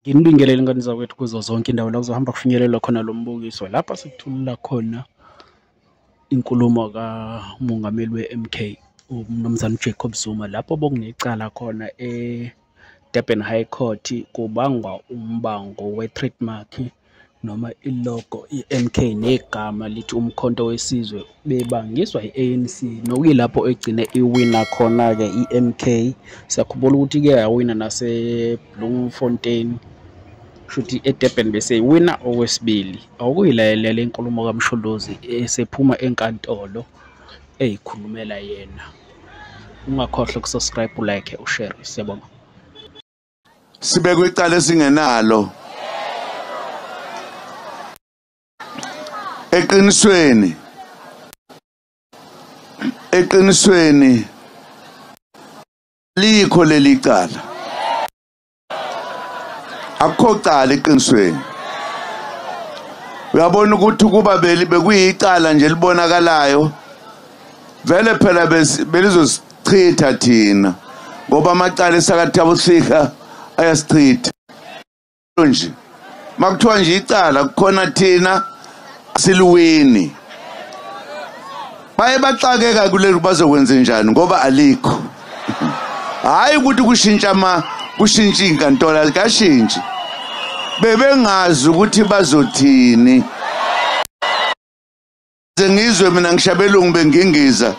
Nginibingelele ingane zakwethu kuzo zonke indawo la kuzohamba kufinyelelwa khona lo mbukiso lapha sikuthulula khona inkulumo kamongameli we-MK uMnumzane uJacob Zuma lapho bokunecala khona e-Durban High Court kubangwa umbango we-trademark noma ilogo iMK negama lithi umkhonto wesizwe bebangiswa i-ANC nokuyilapho egcine iwina khona-ke iMK siyakhumbula ukuthi ke yawina naseBloemfontein shuthi eDurban bese iwina okwesibili awukuyilayelela inkulumo kaMsholozi esephuma enkantolo eyikhulumela yena ungakhohlwa ukusubscribe ulike ushare siyabonga sibekwe icala esingenalo eqinisweni eqinisweni likho leli cala akukho cala eqinisweni uyabona ukuthi ukuba beli bekuyicala nje libonakalayo vele phela belizosi chitha thina ngoba amacala esakathi abusika ayasichitha nje makuthiwa nje icala kukhona thina siluwini baye baxakeka kuleli bazokwenza njani ngoba alikho hayi ukuthi kushintsha ama kushintsha inkantolo alikashintshi bebengazi ukuthi bazothini Ze ngizwe mina ngishabelungu bengingiza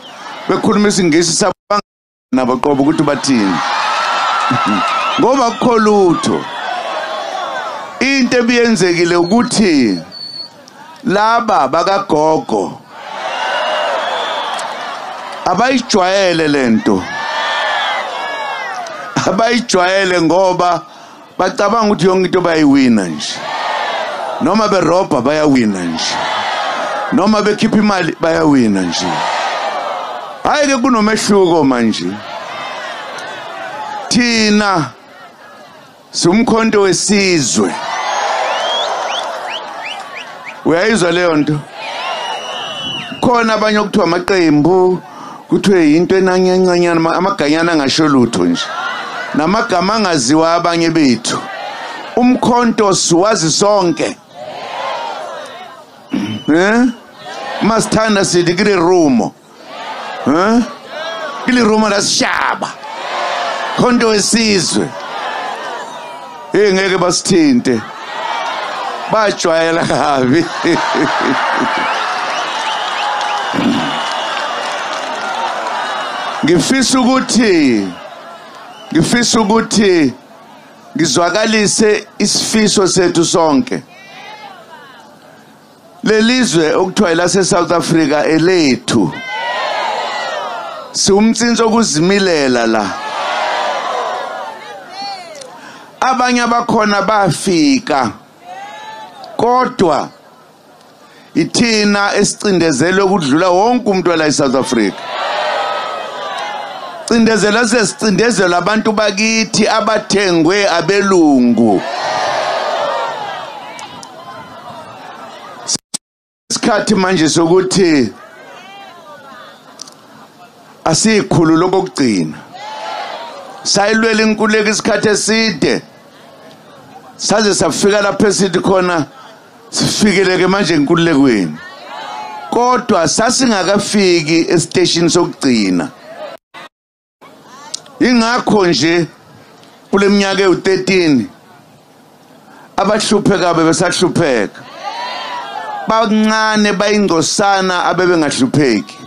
bekhuluma isingisi sabanga nabo qobo ukuthi bathini. Ngoba kukho lutho. Into ebiyenzekile ukuthi laba bakagogo abayijwayele lento abayijwayele ngoba bacabanga ukuthi yonke into bayayiwina nje noma berobha bayawina nje noma bekhipha imali bayawina nje hayi ke kunomehluko manje thina sumkhonto wesizwe uyayizwa leyo nto khona abanye okuthiwa amaqembu kuthiwe yinto enanyancanyana amaganyana angasho lutho nje namagama angaziwa abanye bethu umkhonto siwazi sonke eh masithanda sithi kile rumo eh kile rumo lasishaba khonto wesizwe hey ngeke basithinte bajwayela kabi ngifisa ukuthi ngifisa ukuthi ngizwakalise isifiso sethu sonke lelizwe okuthiwa elase South Africa elethu siwumtsinsi okuzimilela la abanye abakhona bafika kodwa ithina esicindezelwe ukudlula wonke umuntu wala eSouth Africa cindezela sesicindezela abantu bakithi abathengwe abelungu isikhathi manje sokuthi asiyikhulu lokugcina sayilwela inkuleka isikhathi eside saze safika lapho esithi khona sifikeleke manje enkululekweni kodwa sasingakafiki esiteshini sokugcina ingakho nje kuleminyaka ewu13 abahlupheka bebesahlupheka bancane bayingcosana abebengahlupheki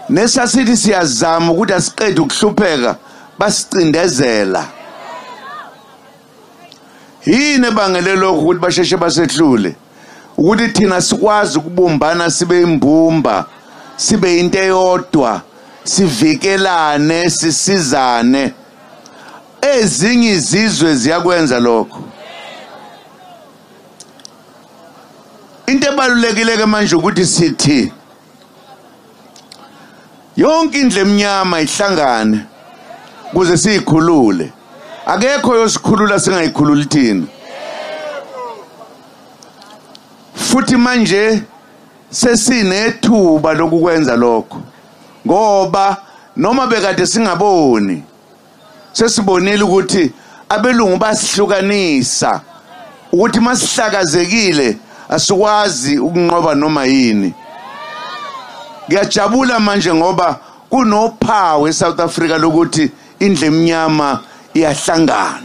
nesasithi siyazama ukuthi asiqede ukuhlupheka basicindezela yini ebangele lokhu ukuthi basheshe basehlule ukuthi thina sikwazi ukubumbana sibe imbumba sibe into eyodwa sivikelane sisizane ezinye izizwe ziyakwenza lokho into ebalulekile ke manje ukuthi sithi yonke indle emnyama ihlangane kuze siyikhulule akekho yosikhulula singayikhululi thina futhi manje sesinethuba lokukwenza lokho ngoba noma bekade singaboni sesibonile ukuthi abelungu basihlukanisa ukuthi masihlakazekile asikwazi ukunqoba noma yini ngiyajabula manje ngoba kunophawu eSouth Africa lokuthi indle emnyama iyahlangana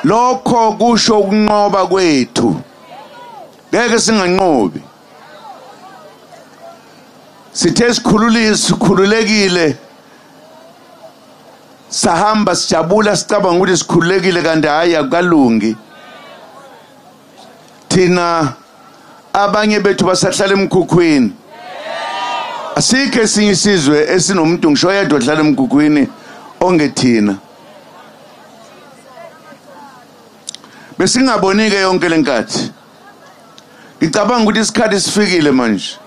lokho kusho ukunqoba kwethu ngeke singanqobi sithe sikhululile sikhululekile sahamba sijabula sicabanga ukuthi sikhululekile kanti hhayi akukalungi thina abanye bethu basahlala emkhukhwini asikho esinye isizwe esinomuntu ngisho yedwa ohlala emkhukhwini ongethina besingabonike yonke lenkathi ngicabanga ukuthi isikhathi sifikile manje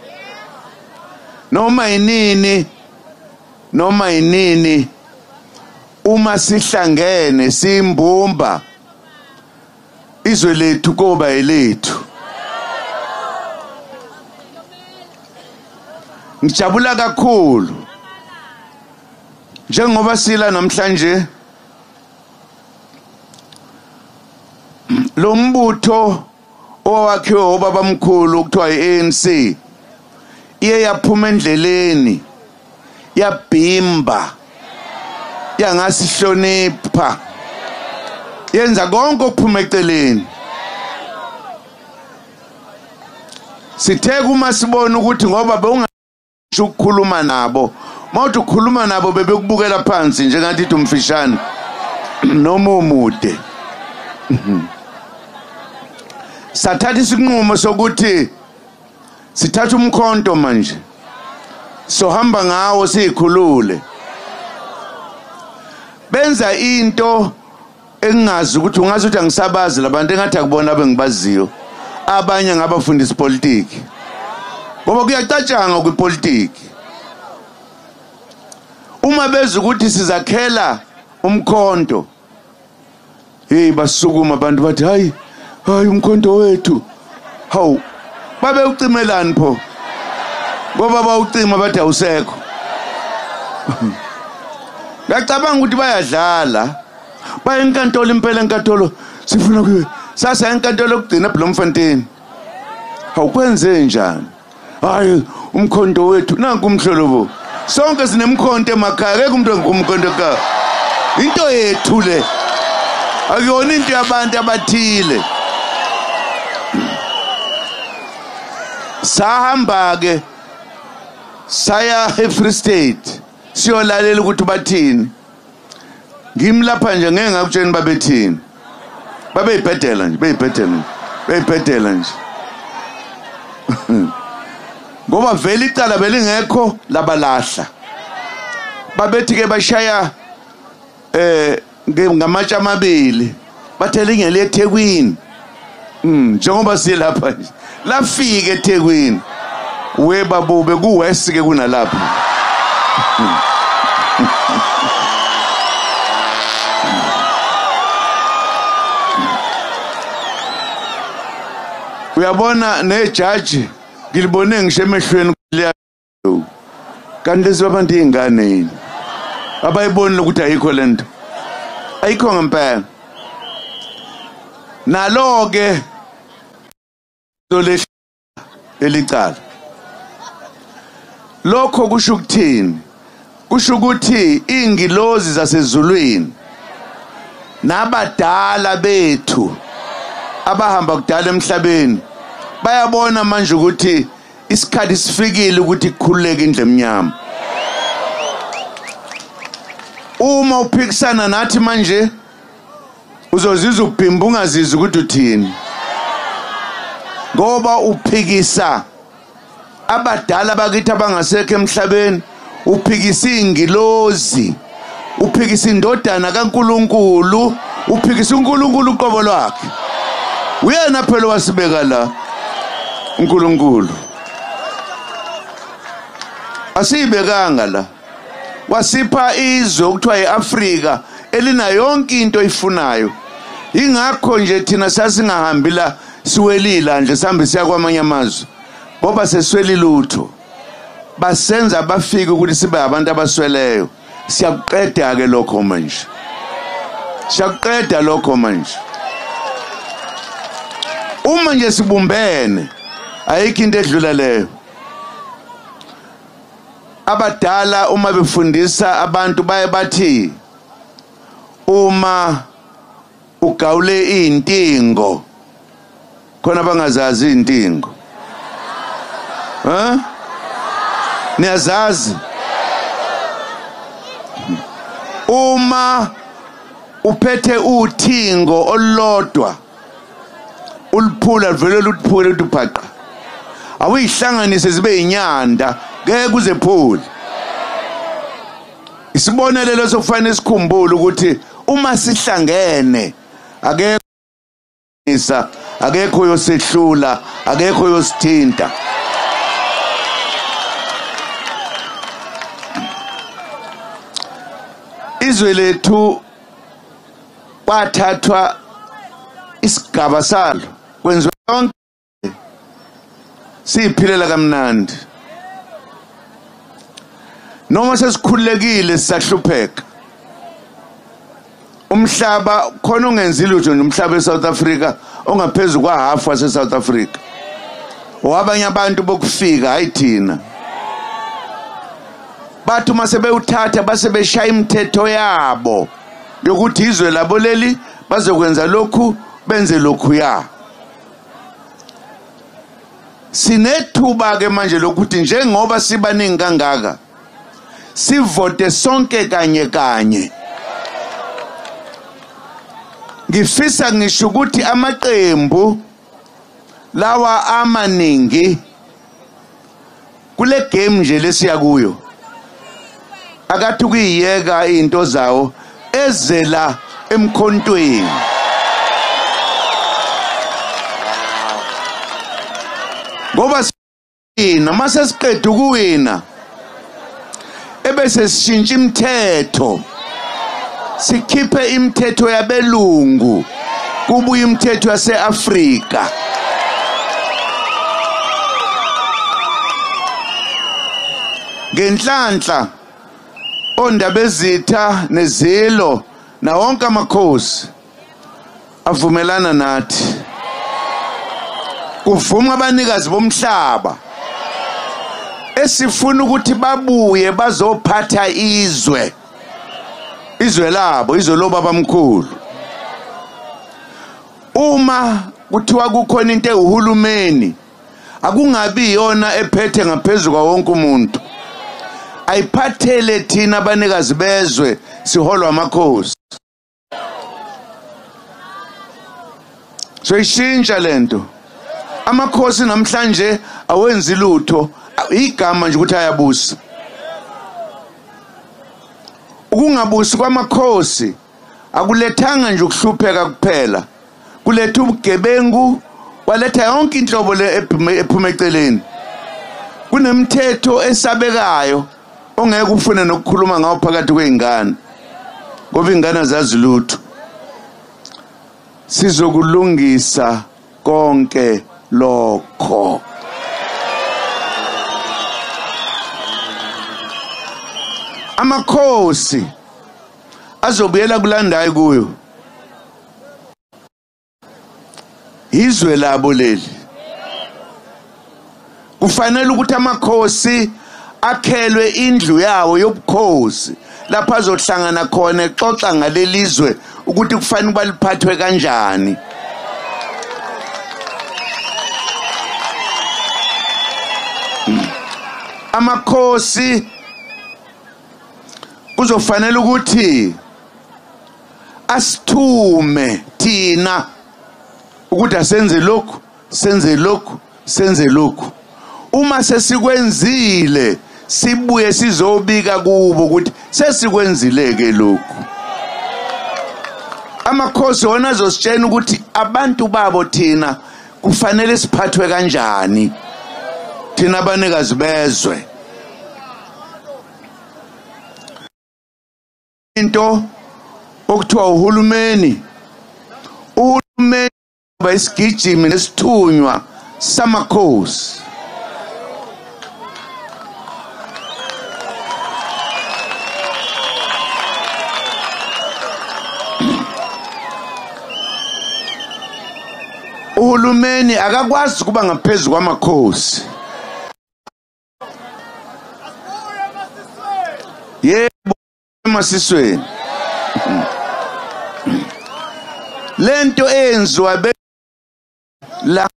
noma yinini noma yinini uma sihlangene simbumba izwe lethu koba elethu ngijabula kakhulu njengoba sila namhlanje lo mbutho owakhiwe obabamkhulu kuthiwa i-ANC iye yaphuma endleleni yabhimba yangasihlonipha yenza konke okuphuma eceleni sithe uma sibona ukuthi ngoba bewungasho ukukhuluma nabo mawuthi ukhuluma nabo bebekubukela phansi njengathi ithi umfishane noma umude sathatha isinqumo sokuthi sithatha umkhonto manje sohamba ngawo siyikhulule benza into engingazi ukuthi ungazi ukuthi angisabazi labantu engathi akubona abengibaziyo abanye ngabafundisa politiki ngoba kuyacatshanga kwipolitiki uma beza ukuthi sizakhela umkhonto heyi basukuma abantu bathi hayi hayi umkhonto wethu hawu babe ucimelani pho ngoba bawucima bathi awusekho ngacabanga ukuthi bayadlala baye enkantolo impela enkantolo sifuna kuye sasa enkantolo kugcina bloemfontein awukwenze njani hayi umkhonto wethu nanku umhlolobo sonke sinemkhonto emakhaya akekho umuntu ongumkhonto ekhaya into yethu le akuyona into yabantu abathile sahamba-ke saya e-free state siyolalela ukuthi bathini ngimi lapha nje ngeke ngakutsheni babethini babeyibhedela nje beyibhedela nje beyibhedela nje ngoba vele icala belingekho labalahla babethi ke bashaya eh ngamatshe amabili bathe lingele ethekwini mm, njengoba silapha nje lafika ethekwini we babube kuwest ke kunalapha mm. uyabona nejaji ngilibone ngisho emehlweni kanti lezi babantu iy'ngane yini abayibonile ukuthi ayikho le nto ayikho ngempela nalo-ke lolehla elicala lokho kusho ukuthini kusho ukuthi iy'ngilozi zasezulwini nabadala bethu abahamba kudala emhlabeni bayabona manje ukuthi isikhathi sifikile ukuthi kukhululeke indlu emnyama uma uphikisana nathi manje uzozizwa ubhimba ungazizi ukuthi uthini ngoba uphikisa abadala bakithi abangasekho emhlabeni uphikisa ingilozi uphikisa indodana kaNkuluNkulu uphikisa uNkuluNkulu uqobo lwakhe uyena phela wasibeka la uNkuluNkulu asiyibekanga la wasipha izwe okuthiwa iAfrika elina yonke into oyifunayo ingakho nje thina sasingahambi la siwelila nje sihambe siya kwamanye amazwe ngoba sesweli lutho basenza abafike ukuthi sibe abantu abasweleyo siyakuqeda ke lokho manje siyakuqeda lokho manje uma nje sibumbene ayikho into edlula leyo abadala uma befundisa abantu baye bathi uma Ugawule izintingo. Khona bangazazi izintingo. Huh? Niyazazi? Uma uphethe uthingo olulodwa uliphula livele luphule ukuthi ubhaqa awuyihlanganise zibe inyanda ngeke uzephule Isibonelelo sokufanele sikhumbule ukuthi uma sihlangene akekho isa akekho yosehlula akekho yosithinta izwe lethu kwathathwa isigaba salo kwenziwa yonke siyiphilela kamnandi noma sesikhulekile sisahlupheka umhlaba khona ungenzi lutho nje umhlaba eSouth Africa ongaphezulu kwa half wase South Africa wabanye abantu bokufika hayi thina bathi uma sebewuthatha base beshaya imithetho yabo yokuthi izwe labo leli bazokwenza lokhu benze lokhu ya sinethuba ke manje lokuthi njengoba sibaningi kangaka sivote sonke kanye kanye ngifisa ngisho ukuthi amaqembu lawa amaningi kule game nje lesiya kuyo akathi ukuyiyeka into zawo ezela emkhontweni ngoba sina mase siqeda ukuwina ebese sishintsha imithetho sikhiphe imithetho yabelungu kubuye imithetho yaseAfrika ngenhlanhla ondabezitha nezilo nawonke amakhosi avumelana nathi kuvuma abanikazi bomhlaba esifuna ukuthi babuye bazophatha izwe izwe labo izwe lobaba mkhulu uma kuthiwa kukhona into ewuhulumeni akungabi yona ephethe ngaphezulu kwawonke umuntu ayiphathele thina abanikazi bezwe siholwa amakhosi soyishintsha lento amakhosi namhlanje awenzi lutho igama nje ukuthi ayabusa ukungabusi kwamakhosi akulethanga nje ukuhlupheka kuphela kuletha ubugebengu waletha yonke inhlobo le ephuma eceleni kunemithetho esabekayo ungeke ufune nokukhuluma ngawo phakathi kwey'ngane ngoba iy'ngane azazi lutho sizokulungisa konke lokho amakhosi azobuyela kulandayo kuyo izwe labo leli kufanele ukuthi amakhosi akhelwe indlu yawo yobukhosi lapha azohlangana khona exoxa ngalelizwe ukuthi kufanele baliphathwe kanjani amakhosi kuzofanele ukuthi asithume thina ukuthi asenze lokhu senze lokhu senze lokhu uma sesikwenzile sibuye sizobika kubo ukuthi sesikwenzile ke lokhu amakhosi wona azositshena ukuthi abantu babo thina kufanele siphathwe kanjani thina abanikazi bezwe into okuthiwa uhulumeni uhulumeni uba isigijimi nesithunywa samakhosi uhulumeni akakwazi ukuba ngaphezu kwamakhosi yebo emasisweni lento eyenziwa be la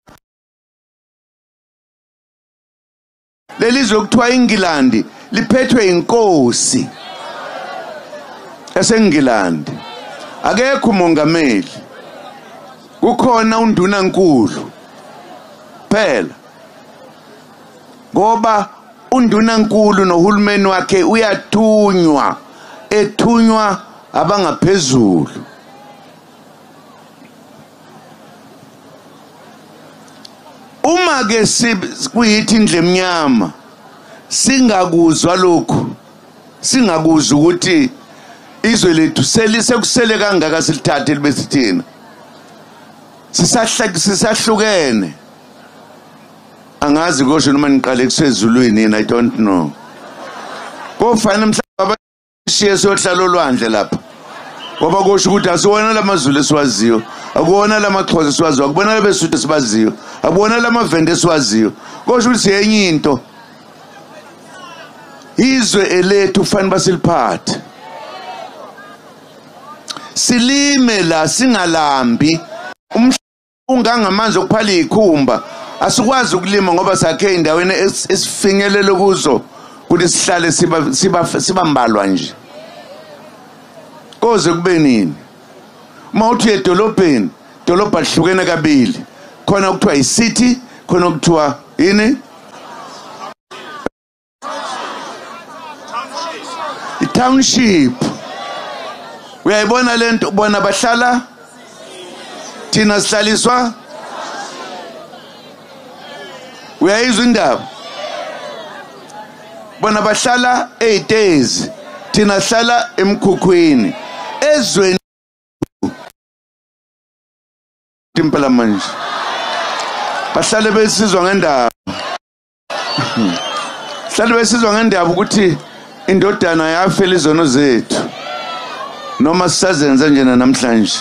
lelizwe kuthiwa ingilandi liphethwe inkosi esengilandi akekho umongameli kukhona undunankulu phela ngoba Undunankulu nohulumeni wakhe uyathunywa ethunywa abangaphezulu uma ke kuyithi indle emnyama singakuzwa lokhu singakuzwa ukuthi izwe lethu selisekusele kangaka silithathe libe sithina sisahlukene angazi kosho noma niqale kusezulwini yini i don't know kofanele mhlawumbe abashiye sohlala olwandle lapha ngoba kusho ukuthi asiwona lamazulu esiwaziyo akuwona lamaxhosa esiwaziyo akubona labesuthu esibaziyo akubona lamavende esiwaziyo kosho ukuthi yenye into izwe elethu fanele basiliphathe silime la singalambi ungangamanzi okuphala izikhumba asikwazi ukulima ngoba sakhe endaweni esifinyelele kuzo kuthi sihlale siba siba sibambalwa nje koze kube nini uma uthi edolobheni dolobha lihlukene kabili khona kuthiwa i-city khona kuthiwa yini itownship uyayibona lento bona bahlala thina sihlaliswa uyayizwa indaba bona bahlala eyitezi thina sihlala emkhukhwini ezweni impela manje bahlale besizwa ngendaba hlale besizwa ngendaba ukuthi indodana yafela izono zethu noma sisazenza njena namhlanje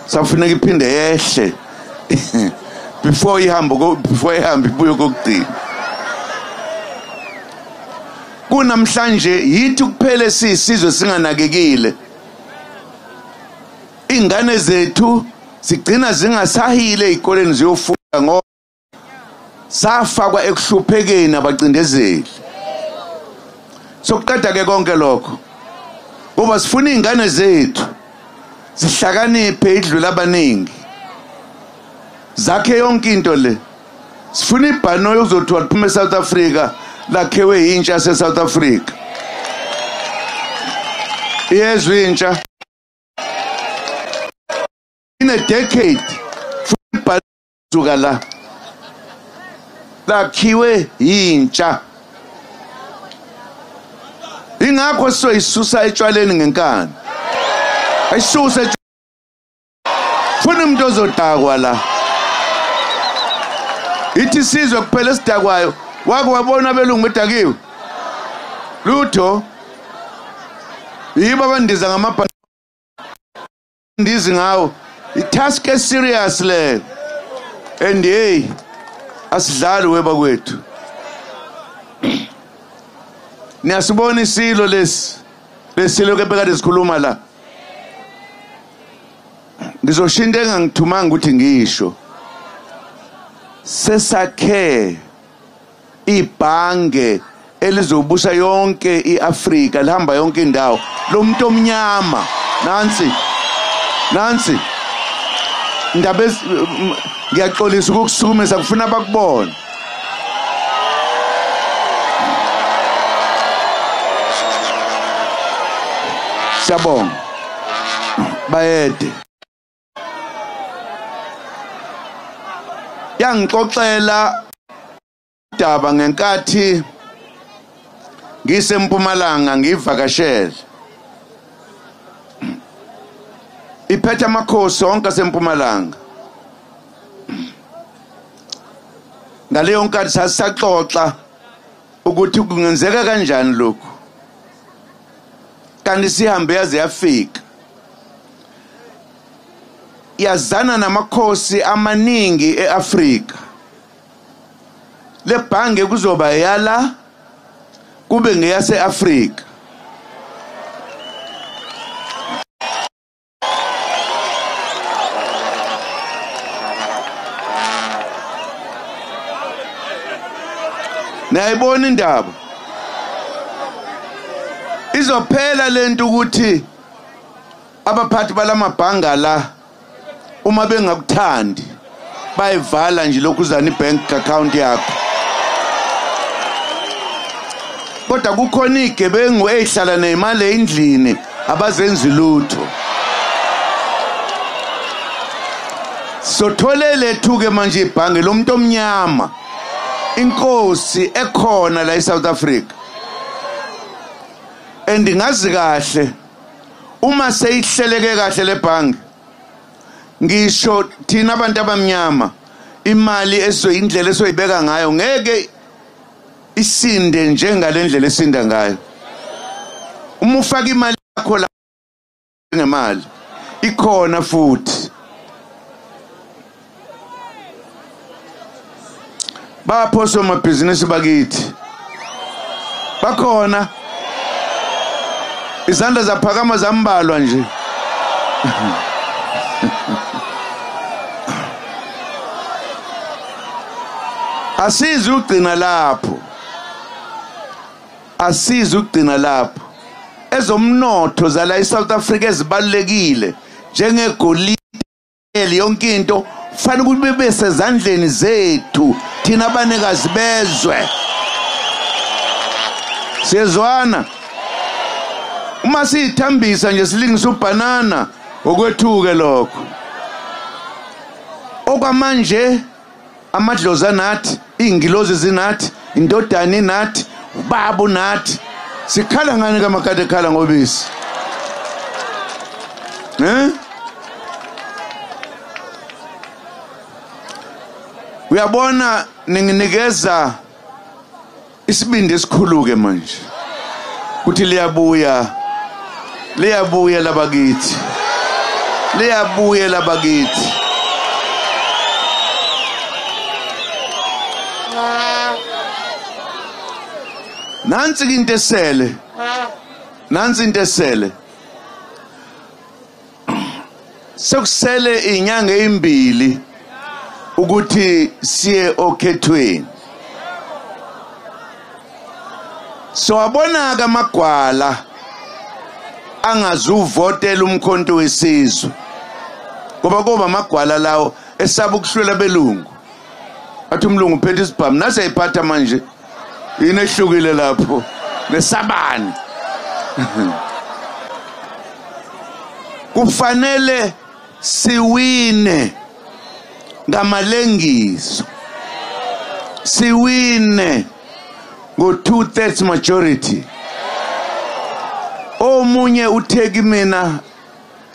safuneka iphinde yehle before ihambo before ihambe ibuye kokugcina kunamhlanje yithi kuphele siyisizwe singanakekile ingane zethu sigcina zingasahile ezikoleni ziyofunda ngoba safakwa ekuhluphekeni abacindezeli sokuqeda ke konke lokho ngoba sifuna izingane zethu zihlakaniphe idlula abaningi zakhe yonke into le sifuna ibhano yokuzothiwa liphuma eSouth Africa lakhewe yintsha yaseSouth Africa iyezwa intsha in a decade suka la lakhiwe yintsha ingakho sizoyisusa etshwaleni ngenkani ayisuse funa umuntu ozodakwa la ithi sizwe kuphela esidakwayo wake wabona abelungu bedakiwe lutho yibo abandiza ngamabhasi ndizi ngawo itask e serious le and hey asidlali weba kwethu niyasibona isilo lesi lesilo kepeka lezikhuluma la ngizoshinta engangithumanga ukuthi ngisho sesakhe ibhange elizobusa yonke iAfrika lihamba yonke indawo lo muntu omnyama nansi nansi ndaba ngiyaxolisa ukukusukumisa kufuna abakubone Siyabonga bayede yangixoxela daba ngenkathi ngisempumalanga ngivakashele iphethe amakhosi onke asempumalanga ngaleyo nkathi sasisaxoxa ukuthi kungenzeka kanjani lokhu kanti sihambe yaze yafika yazana namakhosi amaningi eAfrika lebhange kuzoba yala kube ngeyaseAfrika niyayibona indaba izophela lento ukuthi abaphathi balamabhanga la uma bengakuthandi bayivala nje lokhuzana ibank account yakho kodwa kukhona igebengu ezihlala nezimali endlini abazenzi lutho sothole lethuke manje ibhange lomuntu omnyama inkosi ekhona la eSouth Africa and ngazi kahle uma seyihleleke kahle lebhangi ngisho thina abantu abamnyama imali esoyindlela esoyibeka ngayo ngeke isinde njengalendlela esinda ngayo uma ufaka imali yakho la ngemali ikhona futhi bapho somabhizinisi bakithi bakhona izandla zaphakama zambalwa nje asizi ugcina lapho asizi ukugcina lapho ezomnotho zala eSouth Africa ezibalekile njengegolide yonke into fanele ukuthi bese zandleni zethu thina abanikazi bezwe siyezwana uma siyithambisa nje silingisa ubhanana okwethuke lokho okwamanje amadlozi anathi iy'ngilozi zinathi indodana inathi ubaba unathi sikhala ngani kamakade ekhala ngobisi um uyabona ninginikeza isibindi esikhuluke manje ukuthi liyabuya liyabuya labakithi liyabuya labakithi nansi into esele nansi into esele sekusele inyanga ezimbili ukuthi siye okhethweni sowabonaka amagwala angazuvotela umkhonto wesizwe ngoba kuba amagwala lawo esaba ukuhlwela belungu athi umlungu uphethe isibhamu nase ephatha manje yini ehlukile lapho nesabani kufanele siwine ngamalengiso siwine ngo two thirds majority omunye uthe kimina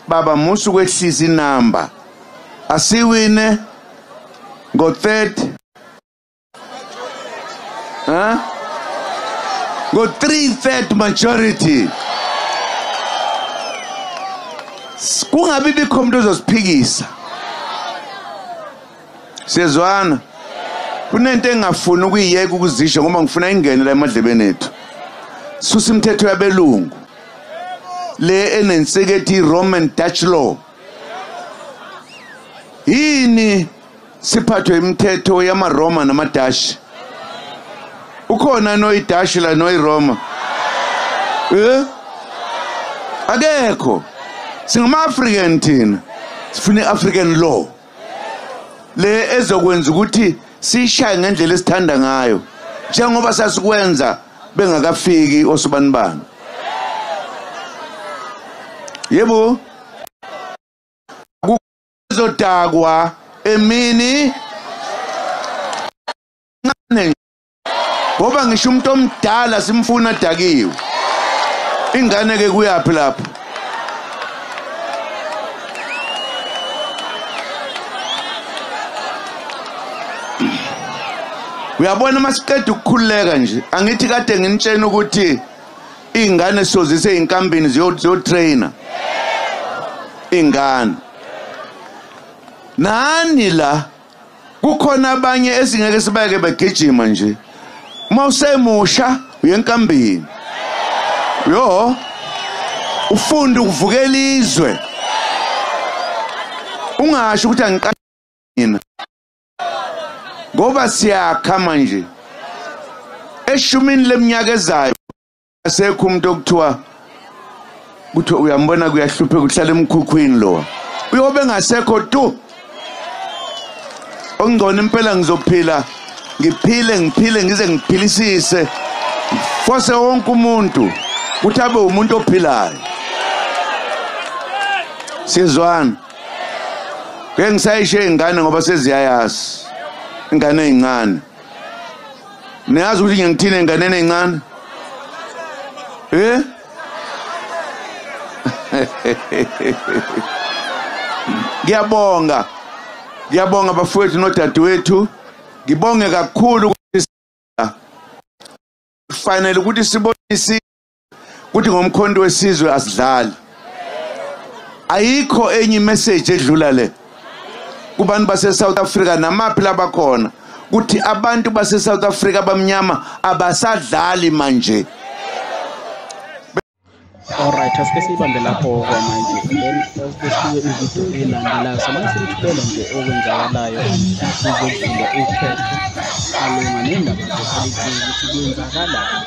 baba musu kwehlisa inamba asiwine ngo third huh? ngo three third majority kungabi bikho umuntu ozosiphikisa siyezwana kunento engingafuni ukuyiyeka ukuzisho ngoba ngifuna ingene la emadlebeni ethu susa imithetho yabelungu le enensekethi i-roman dutch law yini siphathwe imithetho yamaRoma namaDashi ukhona noyiDashi la noyiRoma eh akekho singama-african thina sifuna i-african law le ezokwenza ukuthi siyishaye ngendlela esithanda ngayo njengoba sasikwenza bengakafiki osibanibani yebo ezodakwa emini ncane ngoba ngisho umuntu omdala simfuna dakiwe ingane ke kuyaphi lapho uyabona uma siqeda ukukhululeka nje angithi kade nginitshena ukuthi Iy'ngane sozise iy'nkambini ziyotrayina iy'ngane nani la kukhona abanye esingeke sibayeke begijima nje uma usemusha uyenkambini yo ufunde ukuvukela izwe ungasho ukuthi angiqashina ngoba siyakha manje eshumini leminyaka ezayo asekho umuntu okuthiwa ukuthi uyambona kuyahlupheka uhlala emkhukhwini lowa uyobe ngasekho tu ongcono impela ngizophila ngiphile ngiphile ngize ngiphilisise fose wonke umuntu ukuthi abe umuntu ophilayo sizwana ngeke ngisayishiya iy'ngane ngoba seziyayazi ingane ey'ncane niyazi ukuthi ngiyangithini ey'nganeni ey'ncane eh ngiyabonga ngiyabonga bafowethu nodadewethu ngibonge kakhulu ukuthi kufanele ukuthi sibonise kuthi ngomkhonto wesizwe asidlali ayikho enye imessage edlula le kubantu base-south africa namaphi labakhona kuthi abantu base-south africa abamnyama abasadlali manje Alright, asike siyibambe lapho kwamanje then asike siye ividiyo elandelayo samane silithulele nje okwenzakalayo sizokuvula ukhetho alunga nendaba zopolitiki ukuthi kwenzakalani